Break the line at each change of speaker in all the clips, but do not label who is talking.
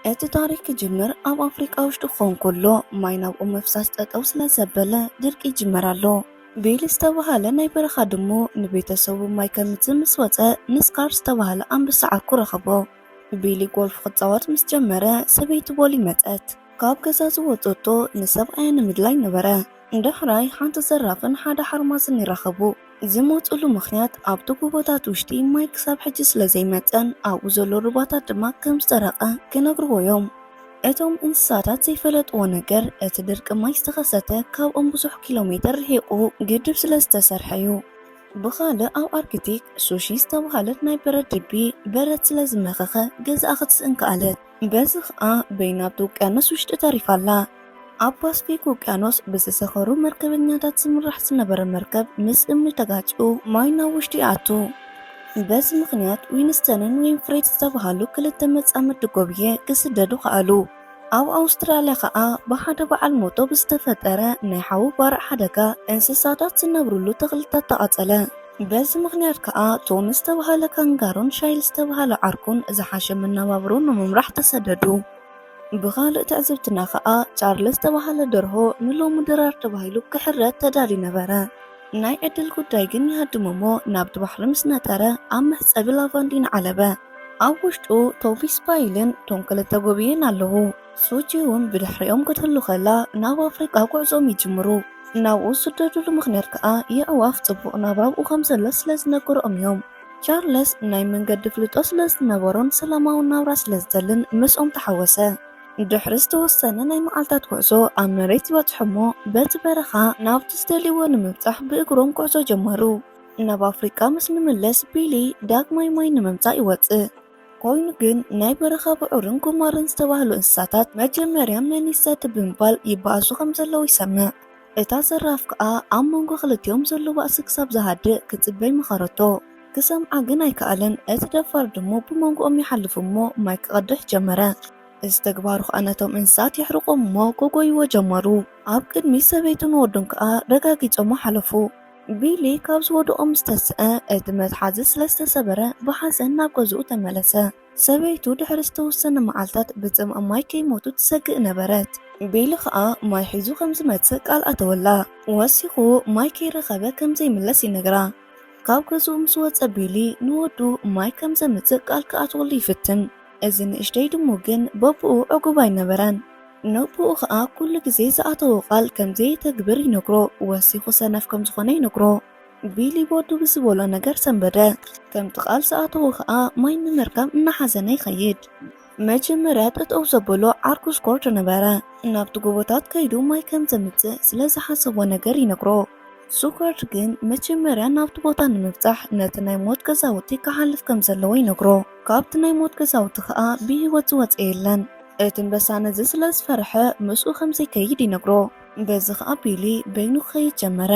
እቲ ታሪክ ክጅምር ኣብ ኣፍሪቃ ውሽጢ ክኾን ከሎ ማይ ናብ ኦም ምፍሳስ ጠጠው ስለዘበለ ድርቂ ይጅመር ኣሎ። ቢል ዝተባሃለ ናይ በረኻ ድሙ ንቤተሰቡ ማይ ከምጽእ ምስ ወጸ ንስካር ዝተባሃለ ኣንብሳ ዓርኩ ረኸቦ። ቢሊ ጎልፍ ክጻወት ምስ ጀመረ ሰበይቲ ቦሊ መጸት። ካብ ገዛ ዝወጸቶ ንሰብኣያ ንምድላይ ነበረ። ዳሕራይ ሓንቲ ዘራፍን ሓደ ሓርማዝን ይራኸቡ። ዝመጹሉ ምኽንያት ኣብቲ ጎቦታት ውሽጢ ማይ ክሳብ ሕጂ ስለ ዘይመጸን ኣብኡ ዘሎ ሩባታት ድማ ከም ዝጸረቐ ክነግርዎ እዮም። እቶም እንስሳታት ዘይፈለጥዎ ነገር እቲ ድርቂ ማይ ዝተኸሰተ ካብኦም ብዙሕ ኪሎ ሜተር ርሒቑ ግድብ ስለ ዝተሰርሐ እዩ። ብኻልእ ኣብ ኣርክቲክ ሱሺ ዝተብሃለት ናይ በረድ ድቢ በረድ ስለ ዝመኸኸ ገዛኣ ክትስእን ከኣለት። በዚ ኸኣ በይና ኣብቲ ውቅያኖስ ውሽጢ ተሪፋ ኣላ። ኣብ ፓስፊክ ውቅያኖስ ብዝሰኸሩ መርከበኛታት ዝምራሕ ዝነበረ መርከብ ምስ እምኒ ተጋጭኡ ማይ ናብ ውሽጢ ይኣቱ። በዚ ምኽንያት ዊንስተንን ዊንፍሬድ ዝተብሃሉ ክልተ መጻምዲ ጎብየ ክስደዱ ከኣሉ። ኣብ ኣውስትራልያ ኸኣ ብሓደ በዓል ሞቶ ብዝተፈጠረ ናይ ሓዊ ባርዕ ሓደጋ እንስሳታት ዝነብርሉ ተኽልታት ተቓጸለ። በዚ ምኽንያት ከኣ ቶም ዝተብሃለ ካንጋሮን ሻይል ዝተብሃለ ዓርኩን ዝሓሸ መነባብሮ ንምምራሕ ተሰደዱ። ብኻልእ ትዕዝብትና ከኣ ቻርለስ ዝተብሃለ ደርሆ ንሎሚ ድራር ተባሂሉ ክሕረድ ተዳልዩ ነበረ። ናይ ዕድል ጉዳይ ግን ይሃድም'ሞ ናብቲ ባሕሪ ምስ ነጠረ ኣብ መሕጸቢ ላቫንዲን ዓለበ። ኣብ ውሽጡ ቶቪስ ፓይልን ቶም ክልተ ጎብይን ኣለዉ። ሱቺ'ውን ብድሕሪኦም ክትህሉ ከላ ናብ ኣፍሪቃ ጉዕዞኦም ይጅምሩ። ናብኡ ዝስደድሉ ምኽንያት ከኣ የዕዋፍ ጽቡቕ ናብራ ኣብኡ ከም ዘሎ ስለ ዝነገርኦም እዮም። ቻርለስ ናይ መንገዲ ኣፍልጦ ስለ ዝነበሮን ሰላማዊ ናብራ ስለ ዝደልን ምስኦም ተሓወሰ። ድሕሪ ዝተወሰነ ናይ መዓልታት ጉዕዞ ኣብ መሬት በጽሑ'ሞ በቲ በረኻ ናብቲ ዝደልይዎ ንምብጻሕ ብእግሮም ጉዕዞ ጀመሩ። ናብ ኣፍሪቃ ምስ ንምለስ ቢሊ ዳግማይ ማይ ንምምጻእ ይወጽእ። ኮይኑ ግን ናይ በረኻ ብዑርን ጉማረን ዝተባህሉ እንስሳታት መጀመርያ መን ይሳደብ ብምባል ይበኣሱ ከም ዘለዉ ይሰምዕ። እታ ዘራፍ ከኣ ኣብ መንጎ ክልቲኦም ዘሎ ባእሲ ክሳብ ዝሃድእ ክጽበይ መኸረቶ። ክሰምዓ ግን ኣይከኣለን። እቲ ደፋር ድሙ ብመንጎኦም ይሓልፍ እሞ ማይ ክቐድሕ ጀመረ። እዚ ተግባሩ ከኣ ነቶም እንስሳት የሕርቖም እሞ ክጎይዎ ጀመሩ። ኣብ ቅድሚ ሰበይቱን ወዱን ከኣ ረጋጊጾሞ ሓለፉ። ቢሊ ካብ ዝወድቖ ምስ ተስኣ፣ እቲ መትሓዚ ስለ ዝተሰበረ ብሓዘን ናብ ገዝኡ ተመለሰ። ሰበይቱ ድሕሪ ዝተወሰነ መዓልታት ብጽምኢ ማይ ከይሞቱ ትሰግእ ነበረት። ቢሊ ኸኣ ማይ ሒዙ ከም ዝመጽእ ቃል ኣተወላ። ወሲኹ ማይ ከይረኸበ ከም ዘይምለስ ይነግራ። ካብ ገዝኡ ምስ ወጸ ቢሊ ንወዱ ማይ ከም ዘምጽእ ቃል ክኣትወሉ ይፍትን። እዚ ንእሽተይ ድሙ ግን በብኡ ዕጉብ ኣይነበረን። ነቦኡ ከኣ ኩሉ ግዜ ዝኣተዎ ቃል ከም ዘየተግብር ይነግሮ። ወሲኹ ሰነፍ ከም ዝኾነ ይነግሮ። ቢሊ ቦዱ ብዝበሎ ነገር ሰንበደ። ከምቲ ቃል ዝኣተዎ ከኣ ማይ ንምርካብ እናሓዘነ ይኸይድ። መጀመርያ ጠጠው ዘበሎ ዓርኩ ስኮርድ ነበረ። ናብቲ ጎቦታት ከይዱ ማይ ከም ዘምጽእ ስለ ዝሓሰቦ ነገር ይነግሮ። ስኮርድ ግን መጀመርያ ናብቲ ቦታ ንምብጻሕ ነቲ ናይ ሞት ገዛውቲ ክሓልፍ ከም ዘለዎ ይነግሮ። ካብቲ ናይ ሞት ገዛውቲ ከኣ ብህይወት ዝወጸ የለን። እቲ ኣንበሳ ነዚ ስለ ዝፈርሐ ምስኡ ከም ዘይከይድ ይነግሮ። በዚ ኸኣ ቢሊ በይኑ ክኸይድ ጀመረ።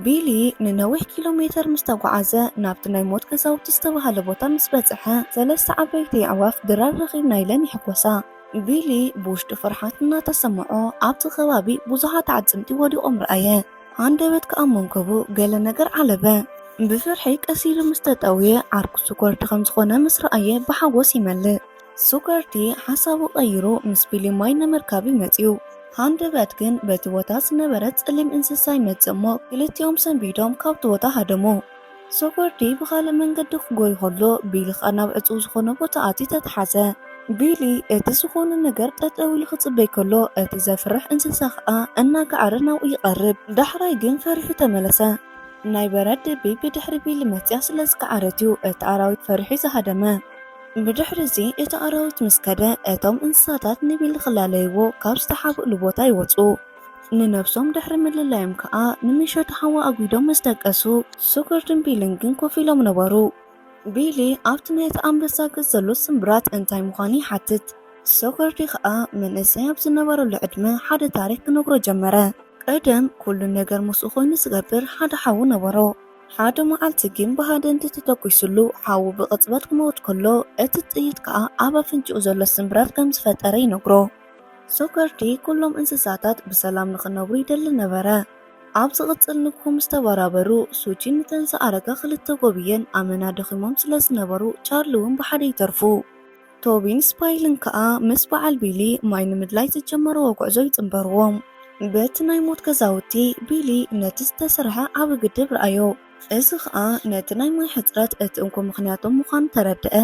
ቢሊ ንነዊሕ ኪሎ ሜተር ምስ ተጓዓዘ ናብቲ ናይ ሞት ገዛውቲ ዝተባህለ ቦታ ምስ በጽሐ ሰለስተ ዓበይቲ ኣዕዋፍ ድራር ረኺብና ኢለን ይሕጎሳ። ቢሊ ብውሽጡ ፍርሓት እናተሰምዖ ኣብቲ ከባቢ ብዙሓት ኣዕጽምቲ ወዲቖም ረኣየ። ሃንደበት ከኣ መንከቡ ገለ ነገር ዓለበ። ብፍርሒ ቀስ ኢሉ ምስ ተጠውየ ዓርኩ ስኮርድ ከም ዝኾነ ምስ ረኣየ ብሓጎስ ይመልእ። ሱከርቲ ሓሳቡ ቀይሩ ምስ ቢሊ ማይ ንምርካብ ይመጽዩ። ሃንደበት ግን በቲ ቦታ ዝነበረ ጸሊም እንስሳ ይመጽእ እሞ ክልቲኦም ሰንቢዶም ካብቲ ቦታ ሃደሙ። ሱከርቲ ብኻልእ መንገዲ ክጎዩ ከሎ ቢሊ ከኣ ናብ ዕጹው ዝኾነ ቦታ ኣትዩ ተታሓዘ። ቢሊ እቲ ዝኾነ ነገር ጠጠው ኢሉ ክጽበይ ከሎ እቲ ዘፍርሕ እንስሳ ከኣ እናገዓረ ናብኡ ይቐርብ። ዳሕራይ ግን ፈሪሑ ተመለሰ። ናይ በራድ ድቢ ብድሕሪ ቢሊ መጽያ ስለዝገዓረት'ዩ እቲ ኣራዊት ፈሪሑ ዝሃደመ። ብድሕርዚ እቲ ኣራዊት ምስ ከደ፣ እቶም እንስሳታት ንቢል ኺላለይዎ ካብ ዝተሓብእሉ ቦታ ይወጹ። ንነብሶም ድሕሪ ምልላዮም ከኣ ንሚሸቱ ሓዊ ኣጒዶም ምስ ደቀሱ፣ ሱኩርድን ቢልን ግን ኮፍ ኢሎም ነበሩ። ቢሊ ኣብቲ ናይቲ ኣንበሳ ገጽ ዘሎ ስምብራት እንታይ ምዃኑ ይሓትት፣ ሱኩርዲ ኸኣ መንእሰይ ኣብ ዝነበረሉ ዕድመ ሓደ ታሪኽ ኪነግሮ ጀመረ። ቀደም፣ ኩሉ ነገር ምስኡ ኮይኑ ዚገብር ሓደ ሓው ነበሮ። ሓደ መዓልቲ ግን ብሃደንቲ ተተኲሱሉ ሓዉ ብቕጽበት ክመውት ከሎ፣ እቲ ጥይት ከኣ ኣብ ኣፍንጭኡ ዘሎ ስምብራት ከም ዝፈጠረ ይነግሮ። ሶከርቲ ኩሎም እንስሳታት ብሰላም ንኽነብሩ ይደሊ ነበረ። ኣብ ዝቕጽል ንግሆ ምስ ተበራበሩ፣ ሱቺን ንተን ዝኣረጋ ክልተ ጎብየን ኣመና ደኺሞም ስለ ዝነበሩ፣ ቻርሊ'ውን ብሓደ ይተርፉ። ቶቢን ስፓይልን ከኣ ምስ በዓል ቢሊ ማይ ንምድላይ ዝጀመርዎ ጉዕዞ ይጽንበርዎ። በቲ ናይ ሞት ገዛውቲ፣ ቢሊ ነቲ ዝተሰርሐ ዓቢ ግድብ ረኣዮ። እዚ ኸኣ ነቲ ናይ ማይ ሕጽረት እቲ እንኮ ምኽንያቶም ምዃኑ ተረድኣ።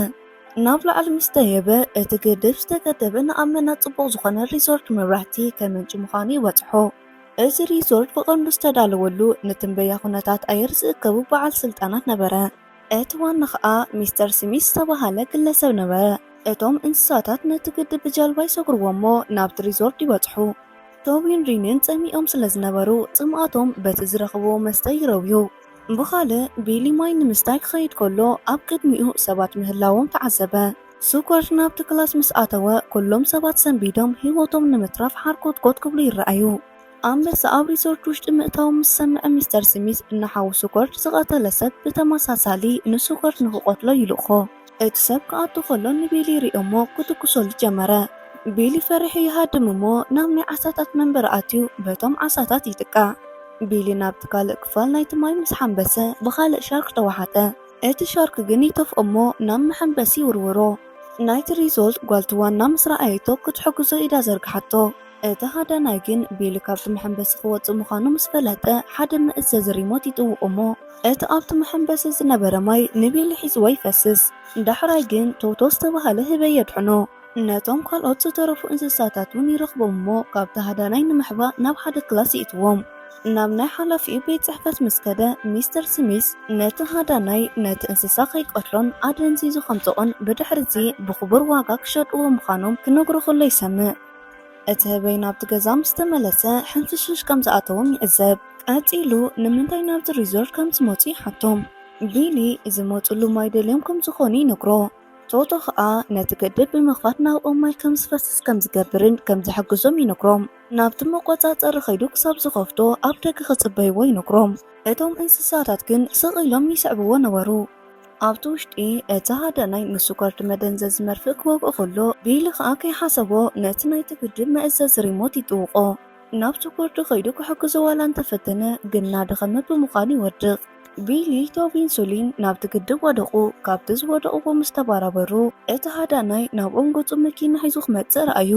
ናብ ላዕሊ ምስ ደየበ፣ እቲ ግድብ ዝተገደበ ንኣመና ጽቡቕ ዝኾነ ሪዞርት መብራህቲ ከመንጭ ምዃኑ ይበጽሖ። እዚ ሪዞርት ብቐንዱ ዝተዳለወሉ ንትንበያ ኩነታት ኣየር ዝእከቡ በዓል ስልጣናት ነበረ። እቲ ዋና ኸኣ ሚስተር ስሚዝ ዝተባህለ ግለሰብ ነበረ። እቶም እንስሳታት ነቲ ግድብ ብጃልባ ይሰግርዎ'ሞ ናብቲ ሪዞርት ይበጽሑ። ቶቢን ሪንን ጸሚኦም ስለ ዝነበሩ ጽምኣቶም በቲ ዝረኽብዎ መስተ ይረውዩ። ብኻልእ፣ ቢሊ ማይ ንምስታይ ክኸይድ ከሎ ኣብ ቅድሚኡ ሰባት ምህላዎም ተዓዘበ። ስኮርት ናብቲ ክላስ ምስ ኣተወ፣ ኵሎም ሰባት ሰንቢዶም ህይወቶም ንምትራፍ ሓርኮትኮት ክብሉ ይረኣዩ። ኣንበሳ ኣብ ሪዞርት ውሽጢ ምእታዉ ምስ ሰምዐ ሚስተር ስሚዝ ንሓዉ ሱኮርድ ዝቐተለ ሰብ ብተመሳሳሊ ንሱኮርድ ንኽቐትሎ ይልእኾ። እቲ ሰብ ክኣቱ ከሎ ንቢሊ ይሪኦ'ሞ ክትኩሰሉ ጀመረ። ቢሊ ፈሪሑ ይሃድም እሞ ናብ ናይ ዓሳታት መንበሪ ኣትዩ በቶም ዓሳታት ይጥቃዕ። ቢሊ ናብቲ ካልእ ክፋል ናይቲ ማይ ምስ ሓምበሰ ብኻልእ ሻርክ ተዋሓጠ። እቲ ሻርክ ግን ይተፍኦ'ሞ ናብ መሐምበሲ ይውርውሮ። ናይቲ ሪዞርት ጓል'ቲ ዋና ምስ ረኣየቶ ክትሕግዞ ኢዳ ዘርግሓቶ። እቲ ሃዳናይ ግን ቢሊ ካብቲ መሐንበሲ ክወጽእ ምዃኑ ምስ ፈለጠ፣ ሓደ መእዘዚ ሪሞት ይጥውቕ እሞ፣ እቲ ኣብቲ መሐንበሲ ዝነበረ ማይ ንቢሊ ሒዝዎ ይፈስስ። ዳሕራይ ግን ቶቶ ዝተባህለ ህበይ የድሕኖ። ነቶም ካልኦት ዝተረፉ እንስሳታት እውን ይረኽቦም እሞ፣ ካብቲ ሃዳናይ ንምሕባእ ናብ ሓደ ክላስ ይእትዎም። ናብ ናይ ሓላፊኡ ቤት ጽሕፈት ምስ ከደ፣ ሚስተር ስሚዝ ነቲ ሃዳናይ ነቲ እንስሳ ከይቀትሎን ኣደንዚዙ ከምጽቖን ብድሕርዚ ብኽቡር ዋጋ ክሸጥዎ ምዃኖም ክነግሮ ከሎ ይሰምዕ። እቲ ህበይ ናብቲ ገዛ ምስ ተመለሰ ሕንፍሽፍሽ ከም ዝኣተዎም ይዕዘብ። ቀጺሉ ንምንታይ ናብቲ ሪዞርት ከም ዝመጹ ይሓቶም። ቢሊ ዝመጹሉ ማይ ደልዮም ከም ዝኾኑ ይነግሮ። ቶቶ ኸኣ ነቲ ገደብ ብምኽፋት ናብኦም ማይ ከም ዝፈስስ ከም ዝገብርን ከም ዝሕግዞም ይነግሮም። ናብቲ መቆጻጸሪ ከይዱ ክሳብ ዝኸፍቶ ኣብ ደገ ክጽበይዎ ይነግሮም። እቶም እንስሳታት ግን ስቕ ኢሎም ይስዕብዎ ነበሩ። ኣብቲ ውሽጢ እቲ ሓደ ናይ ምስጓርድ መደንዘዚ መርፍእ ክወግኦ ከሎ ቢሊ ከዓ ከይሓሰቦ ነቲ ናይቲ ግድብ መእዘዚ ሪሞት ይጥውቆ። ናብ ስጓርዱ ከይዱ ክሕግዞ ዋላ እንተፈተነ ግን እናደኸመ ብምዃኑ ይወድቕ። ቢሊ ቶቢን ሱሊን ናብቲ ግድብ ወደቑ። ካብቲ ዝወደቑዎ ምስ ተባራበሩ እቲ ሃዳናይ ናብኦም ገጹ መኪና ሒዙ ክመጽእ ረኣዩ።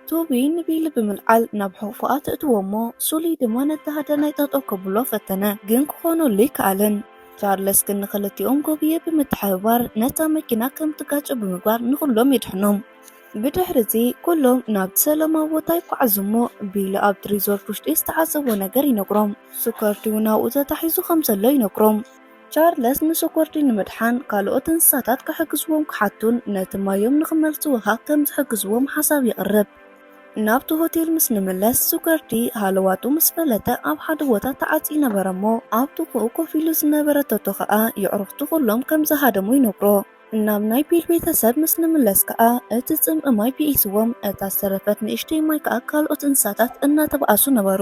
ቶቢ ንቢሊ ብምልዓል ናብ ሕቑፎኣ ተእትዎ'ሞ ሱሊ ድማ ነቲ ሃዳናይ ጠጠው ከብሎ ፈተነ፣ ግን ክኾነሉ ኣይከኣለን። ቻርለስ ግን ንኽልቲኦም ጎብየ ብምትሕብባር ነታ መኪና ከም ትጋጮ ብምግባር ንኹሎም የድሕኖም። ብድሕሪ'ዚ ኩሎም ናብቲ ሰላማዊ ቦታ ይጓዓዙ'ሞ ቢሊ ኣብቲ ሪዞርት ውሽጢ ዝተዓዘቦ ነገር ይነግሮም። ስኳርቲ'ውን ኣብኡ ተታሒዙ ከም ዘሎ ይነግሮም። ቻርለስ ንስኮርዲ ንምድሓን ካልኦት እንስሳታት ክሕግዝዎም ክሓቱን ነቲ ማዮም ንኽመልስዎ ኸኣ ከም ዝሕግዝዎም ሓሳብ የቕርብ። ናብቲ ሆቴል ምስ ንምለስ፣ ስኮርዲ ሃለዋቱ ምስ ፈለጠ ኣብ ሓደ ቦታ ተዓጽዩ ነበረ እሞ ኣብ ጥቕኡ ኮፍ ኢሉ ዝነበረ ቶቶ ኸኣ የዕሩኽቱ ኹሎም ከም ዝሃደሙ ይነግሮ። ናብ ናይ ቢል ቤተሰብ ምስ ንምለስ ከኣ እቲ ጽምኢ ማይ ብኢስዎም፣ እታ ዝተረፈት ንእሽተይ ማይ ከኣ ካልኦት እንስሳታት እናተባኣሱ ነበሩ።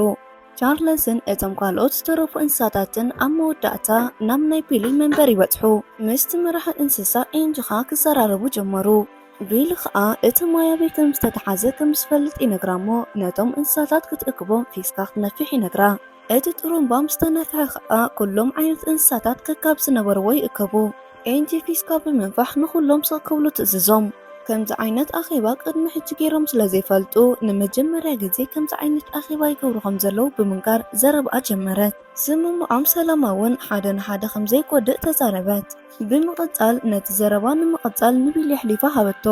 ቻርለስን እቶም ካልኦት ዝተረፉ እንስሳታትን ኣብ መወዳእታ ናብ ናይ ቢሊ መንበር ይበጽሑ። ምስቲ መራሒ እንስሳ ኤንጅኻ ክዘራረቡ ጀመሩ። ቢሊ ኸኣ እቲ ማይ ኣበይ ከም ዝተተሓዘ ከም ዝፈልጥ ይነግራ እሞ ነቶም እንስሳታት ክትእክቦም ፊስካ ክትነፍሕ ይነግራ። እቲ ጥሩምባ ምስ ተነፍሐ ኸኣ ኩሎም ዓይነት እንስሳታት ከካብ ዝነበርዎ ይእከቡ። ኤንቲ ፊስካ ብምንፋሕ ንኹሎም ስቕ ክብሉ ትእዝዞም። ከምዚ ዓይነት ኣኼባ ቅድሚ ሕጂ ገይሮም ስለ ዘይፈልጡ፣ ንመጀመርያ ግዜ ከምዚ ዓይነት ኣኼባ ይገብሩ ከም ዘለዉ ብምንጋር ዘረባኣ ጀመረት። ስምምዖም ሰላማውን ሓደ ንሓደ ከም ዘይጎድእ ተዛረበት። ብምቕጻል ነቲ ዘረባ ንምቕጻል ንቢሊ ኣሕሊፋ ሃበቶ።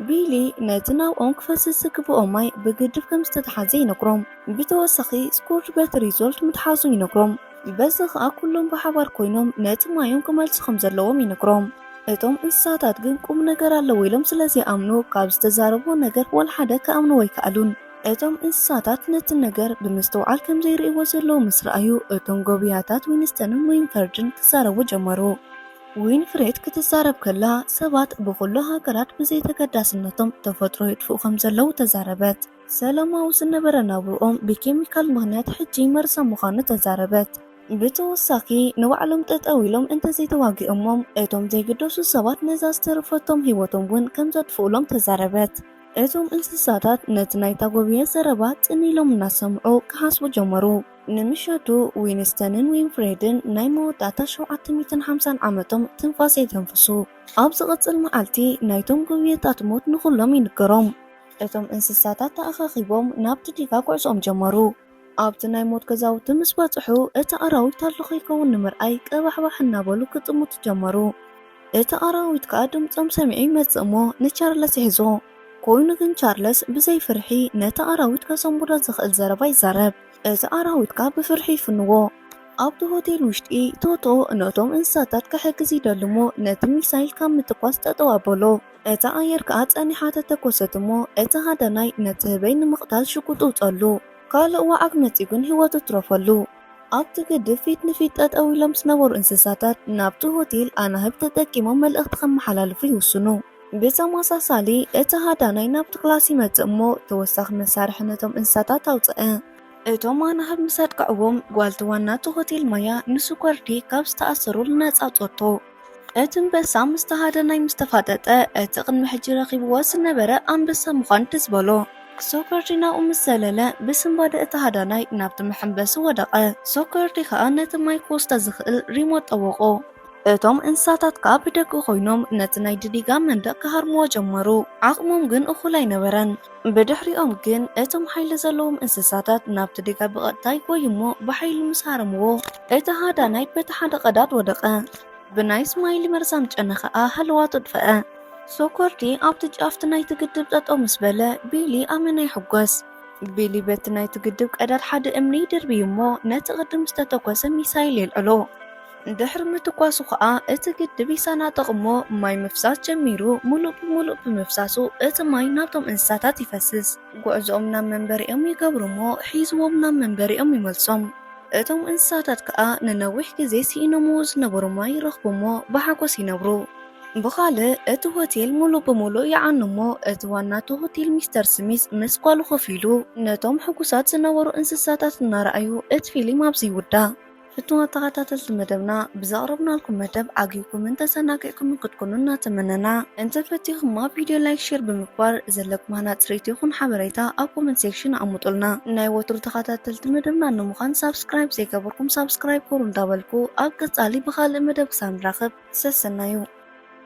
ቢሊ ነቲ ናብኦም ክፈስስ ዝግብኦ ማይ ብግድብ ከም ዝተትሓዘ ይነግሮም። ብተወሳኺ ስኩርድ በቲ ሪዞልት ምትሓዙ ይነግሮም። በዚ ኸኣ ኩሎም ብሓባር ኮይኖም ነቲ ማዮም ክመልሱ ከም ዘለዎም ይነግሮም። እቶም እንስሳታት ግን ቁም ነገር ኣለዎ ኢሎም ስለ ዘይኣምኑ ካብ ዝተዛረብዎ ነገር ዋላ ሓደ ክኣምንዎ ኣይከኣሉን። እቶም እንስሳታት ነቲ ነገር ብምስትውዓል ከም ዘይርእይዎ ዘለዉ ምስ ረኣዩ፣ እቶም ጎብያታት ዊንስተንን ዊንፈርድን ክዛረቡ ጀመሩ። ዊንፍሬድ ክትዛረብ ከላ፣ ሰባት ብኹሉ ሃገራት ብዘይተገዳስነቶም ተፈጥሮ የጥፍኡ ከም ዘለዉ ተዛረበት። ሰላማዊ ዝነበረ ናብርኦም ብኬሚካል ምኽንያት ሕጂ መርዛም ምዃኑ ተዛረበት። ብተወሳኺ ንባዕሎም ጠጠው ኢሎም እንተዘይተዋጊኦሞም እቶም ዘይግደሱ ሰባት ነዛ ዝተረፈቶም ህይወቶም እውን ከምዘጥፍኡሎም ተዛረበት። እቶም እንስሳታት ነቲ ናይ ታጎብየ ዘረባ ጥን ኢሎም እናሰምዑ ክሓስቡ ጀመሩ። ንምሸቱ ዊንስተንን ዊንፍሬድን ናይ መወዳእታ ሸውዓተ ሚእትን ሓምሳን ዓመቶም ትንፋስ የተንፍሱ። ኣብ ዝቕጽል መዓልቲ ናይቶም ጎብየታት ሞት ንኹሎም ይንገሮም። እቶም እንስሳታት ተኣኻኺቦም ናብቲ ዲጋ ጉዕዞኦም ጀመሩ። ኣብቲ ናይ ሞት ገዛውቲ ምስ በጽሑ፣ እቲ ኣራዊት ኣሎ ከይከውን ንምርኣይ ቀባሕባሕ እናበሉ ክጥምቱ ጀመሩ። እቲ ኣራዊት ከኣ ድምጾም ሰሚዑ ይመጽእ እሞ ንቻርለስ ይሕዞ። ኮይኑ ግን ቻርለስ ብዘይ ፍርሒ ነቲ ኣራዊት ከሰንብዶ ዝኽእል ዘረባ ይዛረብ። እቲ ኣራዊት ከኣ ብፍርሒ ይፍንዎ። ኣብቲ ሆቴል ውሽጢ፣ ቶቶ ነቶም እንስሳታት ክሕግዝ ይደሊ እሞ ነቲ ሚሳይል ካብ ምትኳስ ጠጠው ኣበሎ። እታ ኣየር ከኣ ጸኒሓ ተተኮሰት እሞ እቲ ሃዳናይ ነቲ ህበይ ንምቕታል ሽጉጥ ኣውጸኣሉ። ካልእ ዋዓግ መጺኡ ግን ህይወቱ ትረፈሉ። ኣብቲ ግድብ ፊት ንፊት ጠጠው ኢሎም ዝነበሩ እንስሳታት ናብቲ ሆቴል ኣናህብ ተጠቂሞም መልእኽቲ ከመሓላልፉ ይውስኑ። ብተመሳሳሊ እቲ ሃዳናይ ናብቲ ክላስ ይመጽእ እሞ ተወሳኺ መሳርሒ ነቶም እንስሳታት ኣውጸኣ። እቶም ኣናህብ ምስ ኣጥቅዕዎም ጓልቲ ዋና'ቲ ሆቴል ማያ ንስኮርዲ ካብ ዝተኣሰሩሉ ነጻ ኣውጸቶ። እቲ ኣንበሳ ምስ ተሃደናይ ምስ ተፋጠጠ፣ እቲ ቅድሚ ሕጂ ረኺብዎ ዝነበረ ኣንበሳ ምዃን ትዝ በሎ። ሶከርዲ ናብኡ ምስ ዘለለ፣ ብስንባደ እቲ ሃዳናይ ናብቲ መሐንበሲ ወደቐ። ሶከርዲ ከኣ ነቲ ማይ ክወስዶ ዝኽእል ሪሞት ጠወቖ። እቶም እንስሳታት ከኣ ብደገ ኮይኖም ነቲ ናይ ድዲጋ መንደቕ ክሃርምዎ ጀመሩ። ዓቕሞም ግን እኹል ኣይነበረን። ብድሕሪኦም ግን እቶም ሓይሊ ዘለዎም እንስሳታት ናብቲ ዲጋ ብቐጥታ ይጎዩ እሞ ብሓይሊ ምስ ሃረምዎ እቲ ሃዳናይ በቲ ሓደ ቀዳድ ወደቐ። ብናይ ስማይሊ መርዛም ጨና ከኣ ሃለዋቱ ኣጥፈኣ። ሶኮርዲ ኣብቲ ጫፍቲ ናይቲ ግድብ ጠጠው ምስ በለ ቢሊ ኣመና ይሕጎስ። ቢሊ በቲ ናይቲ ግድብ ቀዳድ ሓደ እምኒ ይድርብይ እሞ ነቲ ቅድም ዝተተኮሰ ሚሳይል የልዕሎ። ድሕሪ ምትኳሱ ከኣ እቲ ግድብ ይሰናጠቕ እሞ ማይ ምፍሳስ ጀሚሩ። ምሉእ ብምሉእ ብምፍሳሱ እቲ ማይ ናብቶም እንስሳታት ይፈስስ። ጉዕዞኦም ናብ መንበሪኦም ይገብሩ እሞ ሒዝዎም ናብ መንበሪኦም ይመልሶም። እቶም እንስሳታት ከኣ ንነዊሕ ግዜ ስኢኖምዎ ዝነበሩ ማይ ይረኽቡ እሞ ብሓጎስ ይነብሩ። ብኻልእ እቲ ሆቴል ምሉእ ብምሉእ ይዓኑ እሞ እቲ ዋና እቲ ሆቴል ሚስተር ስሚዝ ምስ ጓሉ ኮፍ ኢሉ ነቶም ሕጉሳት ዝነበሩ እንስሳታት እናረኣዩ እቲ ፊሊም ኣብዚ ይውዳእ። ፍትዋት ተኸታተልቲ መደብና ብዘቕረብናልኩም መደብ ዓጊብኩምን ተሰናጊዕኩምን ክትኩኑ እናተመነና እንተ ፈቲኹማ ቪድዮ ላይክ ሼር ብምግባር ዘለኩም ሃናጽ ርእይቶ ይኹን ሓበሬታ ኣብ ኮመንት ሴክሽን ኣቕምጡልና። ናይ ወትሩ ተኸታተልቲ መደብና ንምዃን ሳብስክራይብ ዘይገበርኩም ሳብስክራይብ ግበሩ እንዳበልኩ ኣብ ቀጻሊ ብኻልእ መደብ ክሳብ ንራኸብ ሰሰናዩ።